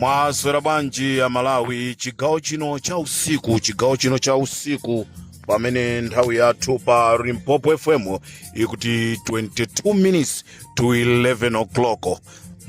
mwaswera bwanji amalawi chigawo chino cha usiku chigawo chino cha usiku pamene nthawi yathu pa limpopo fm ikuti 22 minutes to 11 o'clock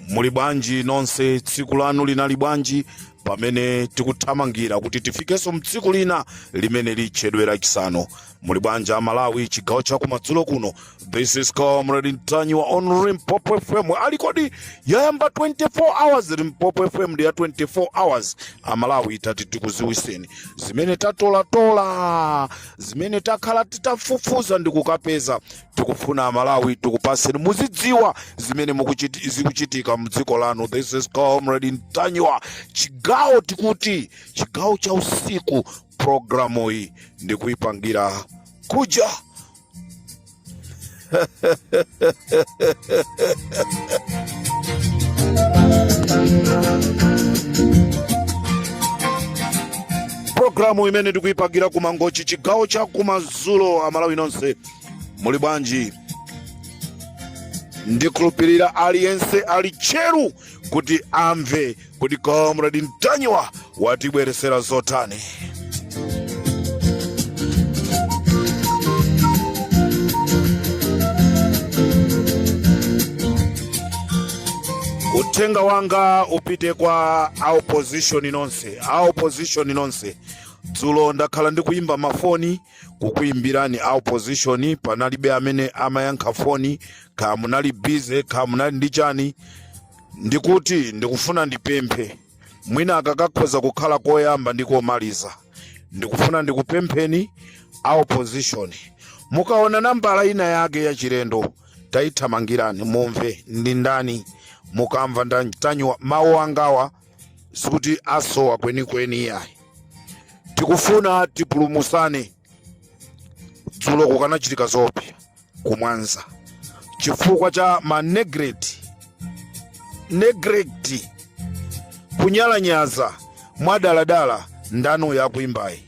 muli bwanji nonse tsiku lanu linali bwanji pamene tikuthamangira kuti tifikenso mtsiku lina limene litchedwera chisanu muli bwanji amalawi chigawo cha kumadzulo kuno this is comrade ntanyiwa on limpopo fm ali kodi yayamba 24 hours limpopo fm ndi ya 24 hours amalawi tati tikuziwiseni zimene tatolatola zimene takhala titafufuza ndi kukapeza tikufuna amalawi tikupaseni muzidziwa zimene mukuchiti- zikuchitika mdziko lanu this is comrade ntanyiwa chigawo tikuti chigawo cha usiku programu iyi ndikuipangira kuja programu imene ndikuipangira ku mangochi chigawo cha kumadzulo amalawi nonse muli bwanji ndikhulupirira aliyense ali tcheru kuti amve kuti comrade ntanyiwa watibweresera zotani uthenga wanga upite kwa a opposition nonse a opposition nonse dzulo ndakhala ndikuyimba mafoni kukuyimbirani a opposition panalibe amene amayankha foni kaya munali busy kaya munali ndi chani ndikuti ndikufuna ndipemphe mwina kakakhoza kukhala koyamba ndi komaliza ndikufuna ndikupempheni a opposition mukaona nambala ina yake ya chilendo tayithamangirani mumve ndi ndani mukamva nda- ntanyiwa mawu angawa sikuti asowa kwenikweni iyayi tikufuna tipulumusane dzulo kukanachitika zoopsa ku mwanza chifukwa cha ma neglect neglect kunyalanyaza mwadaladala ndanu yakuimbayi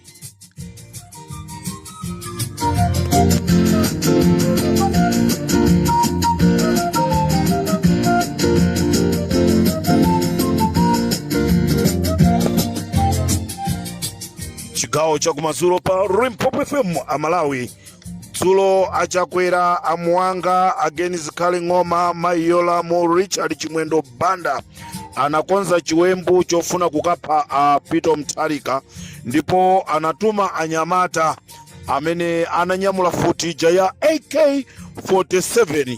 chigawo chakumadzulo pa limpopo fm amalawi dzulo a chakwera a muwanga a ken zikhale ng'oma mayi yolamu richard chimwendo banda anakonza chiwembu chofuna kukapha a peter mutharika ndipo anatuma anyamata amene ananyamula futi ija ya ak 47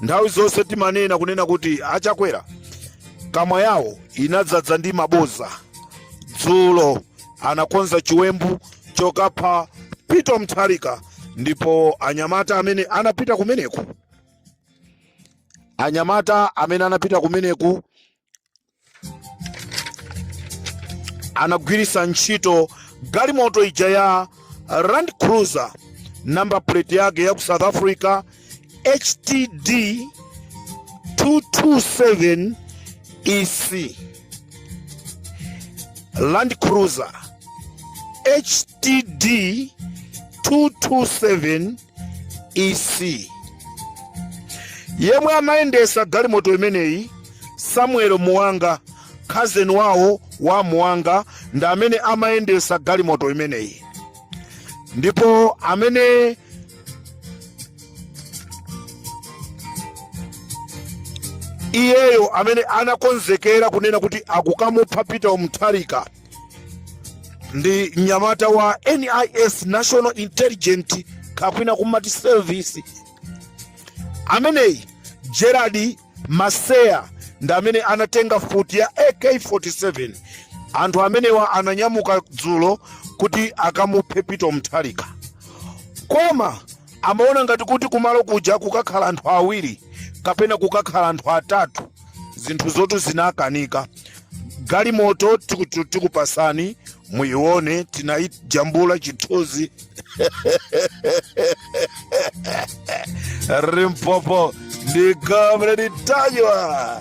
Nthawi zonse timanena kunena kuti a Chakwera kamwa yawo inadzadza ndi maboza. Dzulo anakonza chiwembu chokapha Peter Mutharika ndipo anyamata amene anapita kumeneku anyamata amene anapita kumeneku anagwiritsa ntchito galimoto ija ya Land Cruiser namba plate yake ya ku South Africa HTD 227 EC Land Cruiser HTD 227 EC yemwe amayendesa galimoto imeneyi Samuel Muwanga khazeni wawo wa Muwanga ndi amene amayendesa galimoto imeneyi ndipo amene iyeyo amene anakonzekera kunena kuti akukamupha Peter Mutharika ndi mnyamata wa NIS National Intelligence kapena kumati service ameneyi Gerard Maseya ndi amene anatenga futi ya AK47 anthu amenewa ananyamuka dzulo kuti akamuphe Peter Mutharika koma amaona ngati kuti kumalo kuja kukakhala anthu awiri kapena kukakhala anthu atatu zinthu zonsetu zinakanika galimoto tikutu- tikupasani muione tinayijambula chithunzi Limpopo ndi Comrade Ntanyiwa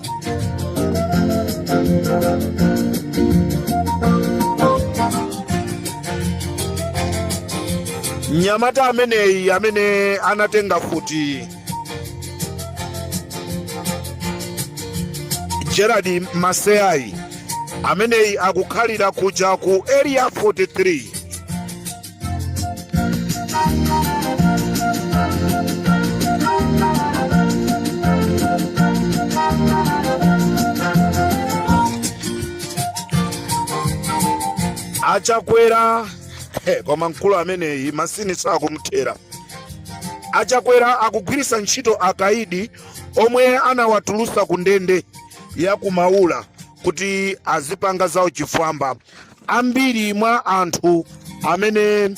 mnyamata ameneyi amene anatenga futi Gerard Maseya ameneyi akukhalira kuja ku area 43 a Chakwera koma mkulu ameneyi mazunzo sakumthera A Chakwera akugwiritsa ntchito akaidi omwe anawatulutsa ku ndende ya ku Maula kuti azipanga zauchifwamba. Ambiri mwa anthu amene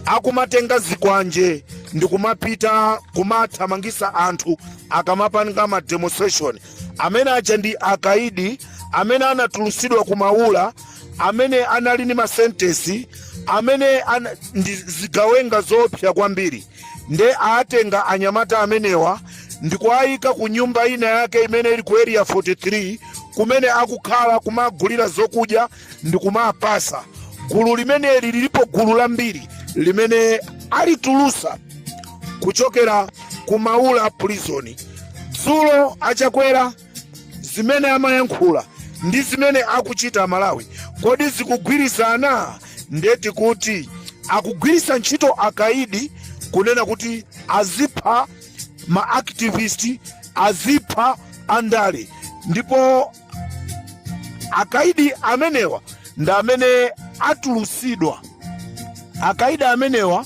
akumatenga zikwanje ndi kumapita kumathamangisa anthu akamapanga ma demonstration amene aja ndi akaidi amene anatulusidwa ku Maula amene anali ndi masentesi amene ndi zigawenga zoopsa kwambiri nde atenga anyamata amenewa ndi kuwayika ku nyumba ina yake imene ili ku area 43 kumene akukhala kumagulira zokudya ndi kumapasa gulu limeneli lilipo gulu lambiri limene alitulusa kuchokera ku maula prison dzulo achakwera zimene amayankhula ndi zimene akuchita amalawi kodi zikugwirizana ndeti kuti akugwiritsa ntchito akaidi kunena kuti azipha ma activist azipha andale ndipo akaidi amenewa ndi amene atulusidwa akaidi amenewa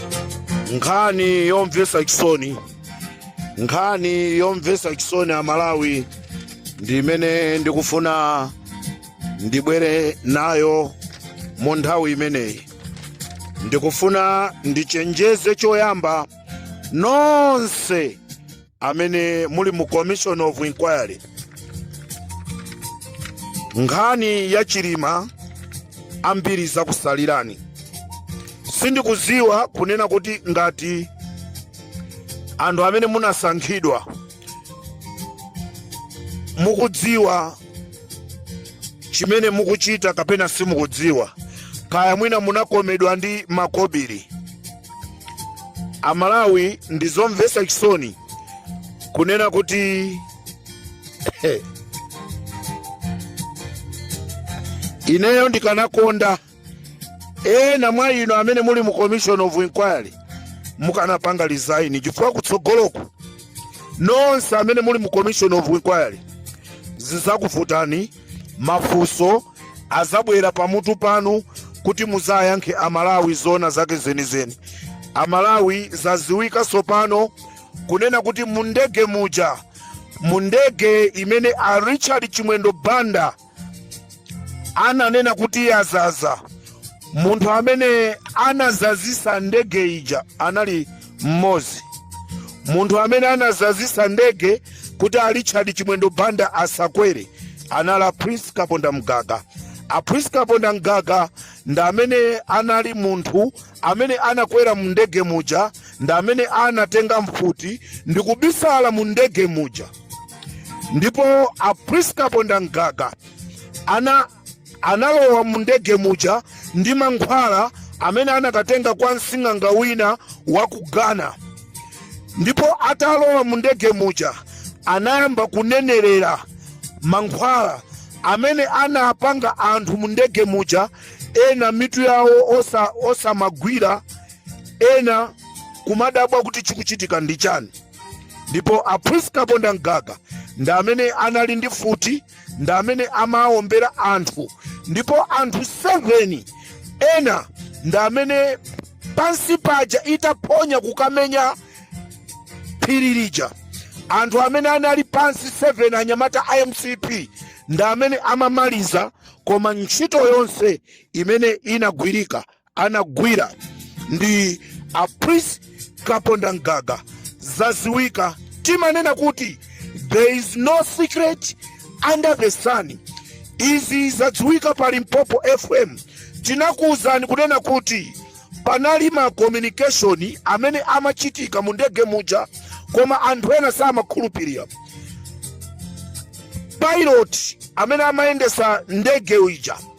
nkhani yomvesa chisoni nkhani yomvesa chisoni amalawi ndi imene ndikufuna ndibwere nayo mu nthawi imeneyi ndikufuna ndichenjeze choyamba nonse amene muli mu commission of inquiry nkhani ya chilima ambiri zakusalirani sindikuziwa kunena kuti ngati anthu amene munasankhidwa mukudziwa chimene mukuchita kapena simukudziwa kaya mwina munakomedwa ndi makobiri amalawi ndi zomvesa chisoni kunena kuti ineyo ndikanakonda ena mwa inu amene muli mu commission of inquiry mukanapanga resign chifukwa kutsogoloku nonse amene muli mu commission of inquiry zizakuvutani mafunso azabwera pamutu panu kuti muzayankhe amalawi zoona zake zenizeni amalawi zaziwika tsopano kunena kuti mundege muja mundege imene a richard chimwendo banda ananena kuti yazaza munthu amene anazazisa ndege ija anali mmodzi munthu amene anazazisa ndege kuti a richard chimwendo banda asakwere anali a prince kaponda mgaga a prince kaponda mgaga ndi amene anali munthu amene anakwera mu ndege muja ndi amene anatenga mfuti ndi kubisala mu ndege muja ndipo a prince kaponda mgaga Analowa mu ndege muja ndi mankhwala amene anakatenga kwa msing'anga wina wa ku Ghana. Ndipo atalowa mu ndege muja anayamba kunenerera mankhwala amene anapanga anthu mu ndege muja, ena mitu yawo osa, osamagwira, ena kumadabwa kuti chikuchitika ndi chani. Ndipo a Prince Kaponda Mgaga ndi amene anali ndi mfuti ndi amene amawombera anthu ndipo anthu 7 ena ndi amene pansi paja itaphonya kukamenya phiri lija anthu amene anali pansi 7 anyamata a mcp ndi amene amamaliza koma ntchito yonse imene inagwirika anagwira ndi a prince kaponda mgaga zaziwika timanena kuti there is no secret under the sun izi zadziwika pa limpopo fm tinakuwuzani kunena kuti panali ma communication amene amachitika mu ndege muja koma anthu ena samakhulupirira pilot amene amayendesa ndege uja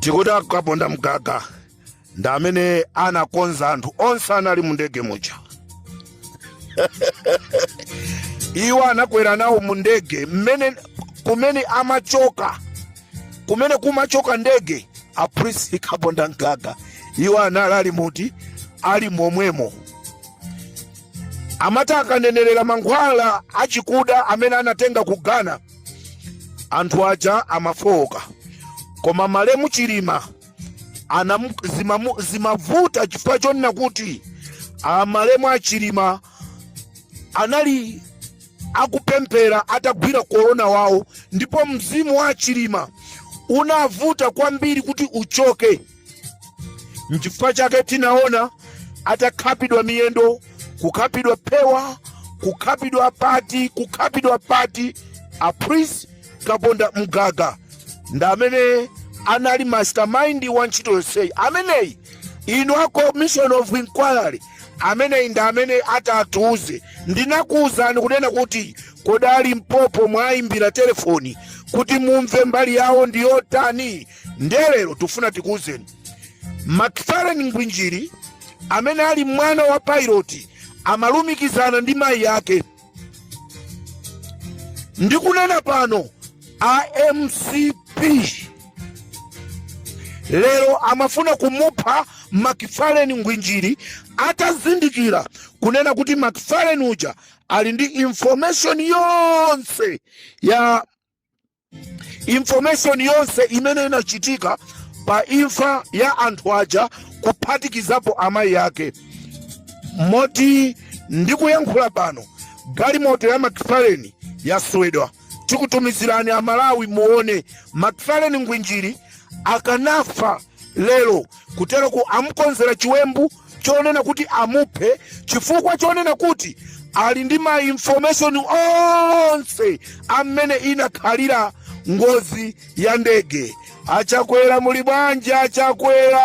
tikuti akaponda mgaga ndi amene anakonza anthu onse anali mu ndege muja iwo anakwera nawo mu ndege mmene kumene amachoka kumene kumachoka ndege a prince kaponda mgaga iwo anali ali muti ali momwemo amati akanenerera mankhwala achikuda amene anatenga ku ghana anthu aja amafowoka koma malemu chilima anamu- zimamu- zimavuta chifukwa chonena kuti amalemu a chilima anali akupemphera atagwira korona wawo ndipo mzimu wa chilima unavuta kwambiri kuti uchoke Nchifukwa chake tinaona atakhapidwa miyendo, kukhapidwa phewa, kukhapidwa pati, kukhapidwa pati. A Prince Kaponda Mgaga ndi amene anali mastermind wa ntchito yonseyi. Ameneyi inu a commission of inquiry ameneyi ndi amene atatiuze. Ndinakuuzani kunena kuti kodi a Limpopo mwayimbira telefoni kuti mumve mbali yawo ndi yotani. ndiye lero tifuna tikuwuzeni macfarlane ngwinjiri amene ali mwana wa pilot amalumikizana ndi mayi ake ndikunena pano a mcp lero amafuna kumupha macfarlane ngwinjiri atazindikira kunena kuti macfarlane uja ali ndi information yonse ya information yonse imene inachitika pa imfa ya anthu aja kuphatikizapo amayi ake moti ndikuyankhula pano galimoto ya Macfarlane yaswedwa tikutumizirani amalawi muone Macfarlane ngwinjiri akanafa lero kutero ku amukonzera chiwembu chonena kuti amuphe chifukwa chonena kuti ali ndi ma information onse amene inakhalira ngozi ya ndege achakwera muli bwanji achakwera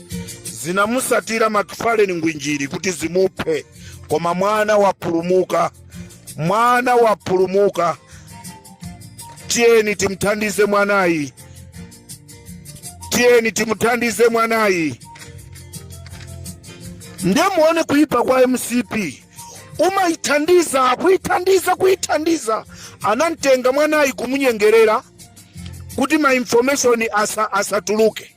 zinamusatira Macfarlane ngwinjiri kuti zimuphe koma mwana wapulumuka mwana wapulumuka tiyeni timthandize mwanayi tiyeni timuthandize mwanayi ndiye muone kuipa kwa mcp umayithandiza kuyithandiza kuyithandiza anamtenga mwanayi kumunyengerera kuti ma information asa, asatuluke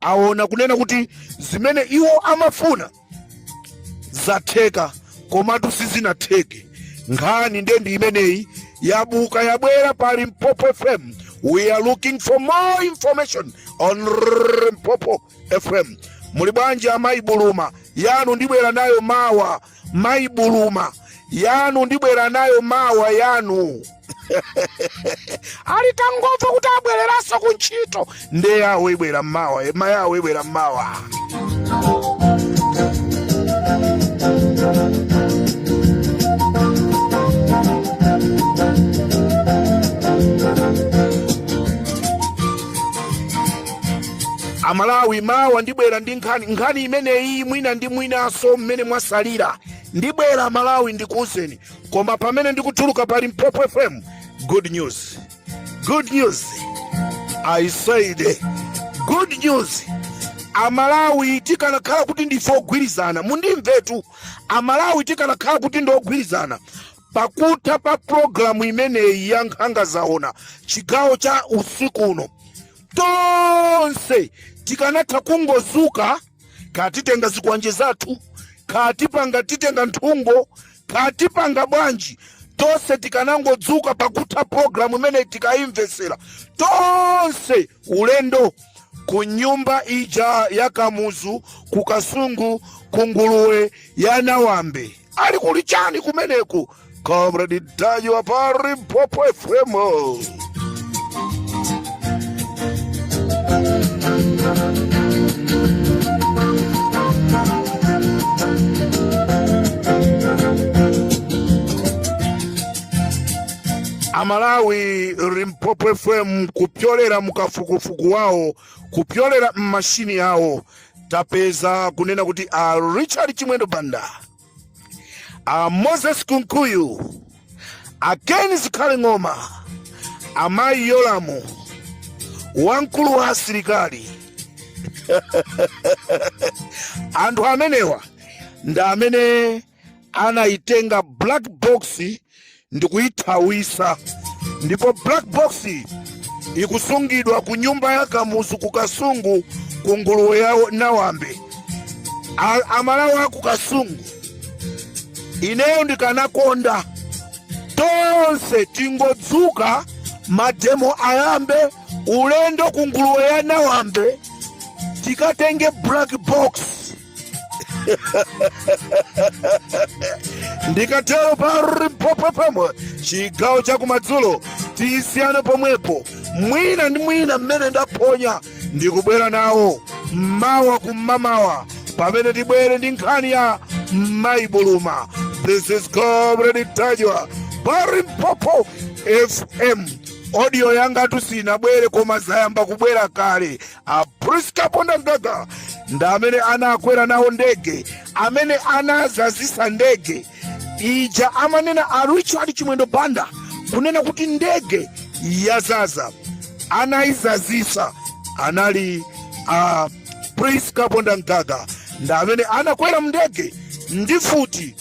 aona kunena kuti zimene iwo amafuna zatheka komatu sizinatheke nkhani nde ndi imeneyi yabuka yabwera pa limpopo fm we are looking for more information on limpopo fm muli bwanji amayi buluma yanu ndibwera nayo mawa Mayi Buluma, yanu ndibwera nayo mawa yanu. Alitangomva kuti abwereranso ku ntchito. Nde yawo ibwera mawa, ema yawo ibwera mawa. amalawi mawa ndibwera ndi nkhani nkhani imeneyi mwina ndi mwinanso mmene mwasalira ndibwera amalawi ndikuwuzeni koma pamene ndikutuluka pa limpopo fm good news good news i said good news amalawi tikanakhala kuti ndife ogwirizana mundimvetu amalawi tikanakhala kuti ndi ogwirizana pakutha pa programu imeneyi ya nkhanga zaona chigawo cha usiku uno tonse tikanatha kungozuka katitenga zikwanje zathu katipanga titenga nthungo katipanga bwanji tonse tikanangodzuka pakutha programu imene tikuyimvetsera tonse ulendo ku nyumba ija ya kamuzu ku kasungu ku nguluwe ya nawambe ali kuli chani kumeneku comrade ntanyiwa pa limpopo fm amalawi limpopo fm kupyolera mukafukufuku wawo kupyolera mmashini yawo tapeza kunena kuti a richard chimwendo banda a moses kunkuyu a ken zikhale ng'oma amayi yolamu wamkulu wa asilikali anthu amenewa ndi amene anayitenga black box ndikuyithawisa ndipo black box ikusungidwa ku nyumba ya kamuzu ku kasungu ku nguluwe ya nawambe amalawi aku kasungu ineyo ndikanakonda tonse tingodzuka mademo ayambe ulendo ku nguluwe ya nawambe tikatenge black box ndikatero pa limpopo fm chigawo chakumadzulo tisiyana pomwepo mwina ndi mwina mmene ndaphonya ndikubwera nawo mawa kum'mamawa pamene tibwere ndi nkhani ya mayi buluma this is comrade ntanyiwa pa limpopo fm audio yangatu sinabwere koma zayamba kubwera kale a Prince Kapondamgaga ndi amene anakwera nawo ndege amene anazazisa ndege ija amanena a Richard Chimwendo Banda kunena kuti ndege yazaza anayizazisa anali a Prince Kapondamgaga ndi amene anakwera mndege ndi mfuti